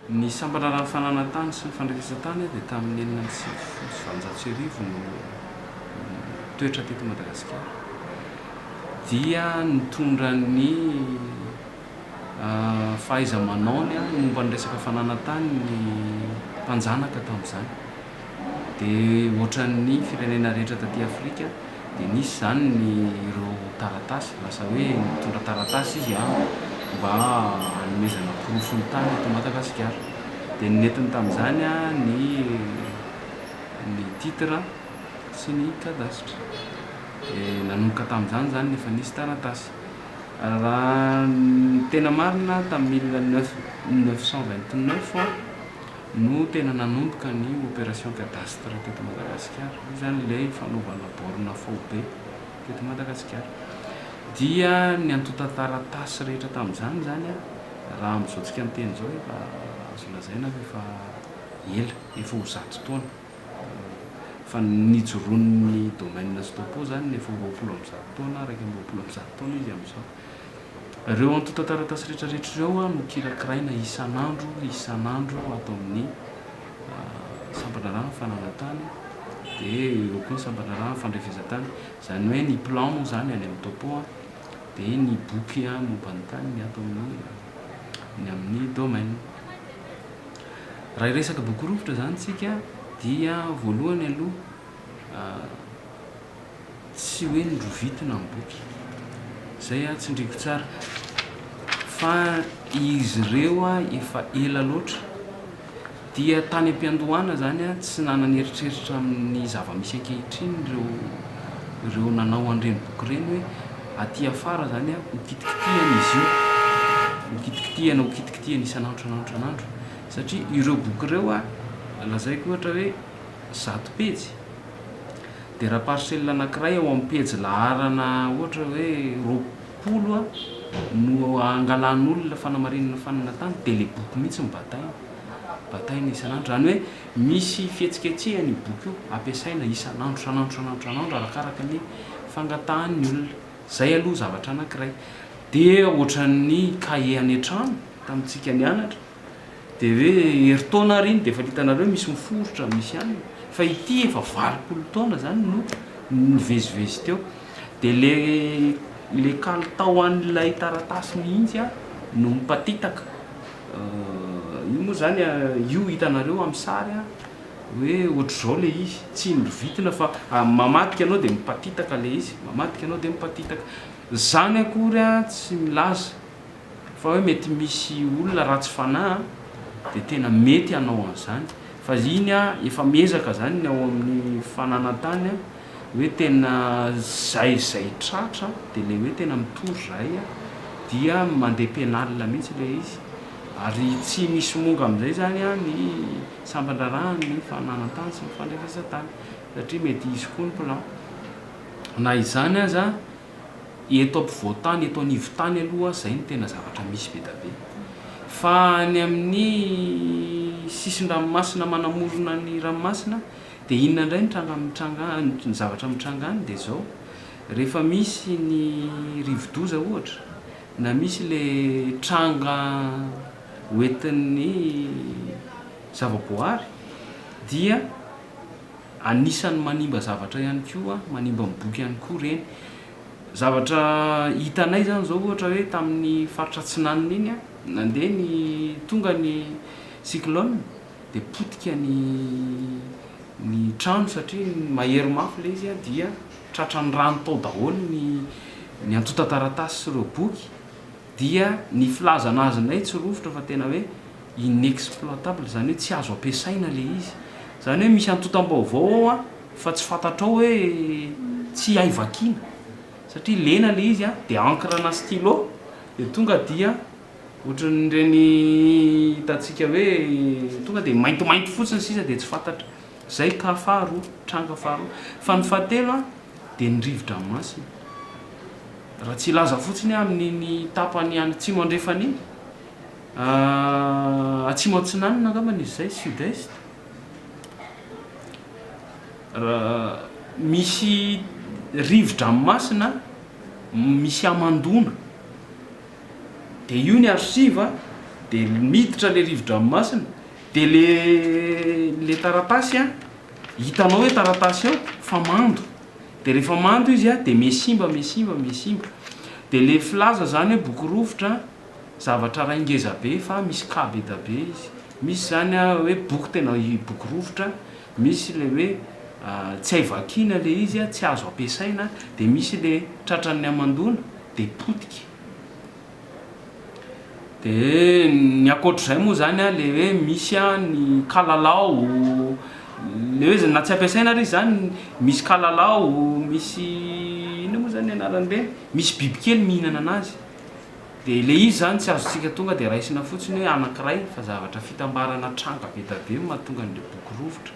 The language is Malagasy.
Ny sambatra raha ny fananan-tany sy ny fandrenesan-tany dia tamin'ny enina amby sivifolo sy valonjato sy arivo no nitoetra teto Madagasikara dia nitondra ny fahaiza-manaony momba ny resaka fananan-tany ny mpanjanaka tamin'izany. Dia ohatran'ny firenena rehetra taty Afrika dia nisy izany ny ireo taratasy, lasa hoe nitondra taratasy izy an, mba hanomezana porofo ny tany eto Madagasikara. Dia ny nentiny tamin'izany an, ny ny titre sy ny cadastre. Dia nanomboka tamin'izany izany ny efa nisy taratasy. Raha ny tena marina tamin'ny mille neuf cent vingt neuf an, no tena nanomboka ny opération cadastre teto Madagasikara, hoy izany ilay fanaovana borne faobe teto Madagasikara. Dia ny antontan-taratasy rehetra tamin'izany izany, raha amin'izao tsika miteny izao, efa azo lazaina fa efa ela, efa ho zato taona, fa nijoroan'ny domaine Stopo izany efa ho roapolo amby zato taona, iraika amby roapolo amby zato taona izy amin'izao. Ireo antontan-taratasy rehetrarehetra ireo no kirakiraina isan'andro isan'andro ato amin'ny sampan-draharahan'ny fananan-tany, dia eo eo koa ny sampan-draharahan'ny fandrefezan-tany. Izany hoe ny plan moa izany any amin'ny topo, dia ny boky momba ny tany ny ato amin'ny ny amin'ny domaine. Raha hiresaka boky rovitra izany isika dia voalohany aloha tsy hoe norovitina ny boky, zay ah tsindriako tsara fa izy ireo ah efa ela loatra dia tany am-piandohana zany ah tsy nanana eritreritra amin'ny zava-misy ankehitriny ireo ireo nanao an'ireny boky ireny hoe aty afara zany ah ho kitikitihana izy io, ho kitikitihana ho kitikitihana isan'andro isan'andro isan'andro satria ireo boky ireo ah lazaiko ohatra hoe zato pejy dia raha parcelle anankiray ao amin'ny pejy laharana ohatra hoe roapolo no angalan'olona fanamarinana fanana tany dia ilay boky mihitsy no bataina, bataina isan'andro, izany hoe misy fihetsiketsehana io boky io, ampiasaina isan'andro, isan'andro, isan'andro, isan'andro arakaraka ny fangatahan'ny olona, izay aloha zavatra anankiray, dia ohatran'ny kahie any an-trano tamintsika nianatra. dia hoe herintaona ary iny dia efa hitanareo misy miforitra misy any fa ity efa valopolo taona zany no nivezivezy teo dia le le kalitao an'ilay taratasy mihitsy a no mipatitaka io moa zany io hitanareo amin'ny sary a hoe ohatr'izao le izy tsy indro vitina fa mamadika ianao dia mipatitaka le izy mamadika ianao dia mipatitaka zany akory a tsy milaza Fa hoe mety misy olona ratsy fanahy an, dia tena mety hanao an'izany. Fa iny an, efa miezaka izany ny ao amin'ny fananan-tany an, hoe tena izay izay tratra, dia ilay hoe tena mitory izahay an, dia mandeha pénal mihitsy ilay izy. Ary tsy misy monga amin'izay izany an, ny sampan-draharahan'ny fananan-tany sy ny fandrefesan-tany, satria mety hisy koa ny plan. Na izany aza, Eto ampovoan-tany, eto anivon-tany aloha izay no tena zavatra misy be dia be. Fa any amin'ny sisin-dranomasina manamorona ny ranomasina dia inona indray no tranga mitranga any, ny zavatra mitranga any dia izao, rehefa misy ny rivo-doza ohatra, na misy ilay tranga hoentin'ny zava-boahary dia. Anisan'ny manimba zavatra ihany koa, manimba ny boky ihany koa ireny. Zavatra hitanay izany izao ohatra hoe tamin'ny faritra atsinanana iny a, nandeha ny, tonga ny cyclone dia potika ny ny trano satria mahery mafy ilay izy a dia tratran'ny rano tao daholo ny ny antontan-taratasy sy ireo boky dia ny filazana azy indray tsy rovitra fa tena hoe inexploitable izany hoe tsy azo ampiasaina ilay izy, izany hoe misy antontam-baovao ao an, fa tsy fantatrao hoe tsy hay vakiana satria lena ilay izy an, dia encre na stylo dia tonga dia ohatran'ireny hitantsika hoe tonga dia maintimainty fotsiny sisa dia tsy fantatra, izay cas faharoa, tranga faharoa, fa ny fahatelo an dia ny rivo-dranomasina, raha tsy hilaza fotsiny aho amin'iny tapany any atsimo andrefana iny, Atsimo Atsinanana angambany izy izay, Sud-Est. Misy rivo-dranomasina misy hamandoana. Dia io ny archive, dia miditra ilay rivo-dranomasina, dia ilay taratasy an, hitanao hoe taratasy ao fa mando. Dia rehefa mando izy dia miha simba, miha simba, miha simba. Dia ilay filaza izany hoe boky rovitra. zavatra iray ngeza be fa misy cas be da be izy. Misy izany hoe boky tena boky rovitra, misy ilay hoe tsy hay vakiana ilay izy, tsy azo ampiasaina, dia misy ilay tratran'ny hamandoana dia potika. Dia ny ankoatra izay moa izany ilay hoe misy ny kalalao, ilay hoe na tsy ampiasaina ary izy izany, misy kalalao, misy inona moa izany ny anaran'ireny, misy bibikely mihinana an'azy. Dia ilay izy izany tsy azontsika tonga dia raisina fotsiny hoe anankiray fa zavatra fitambarana tranga be dia be no mahatonga an'ilay boky rovitra.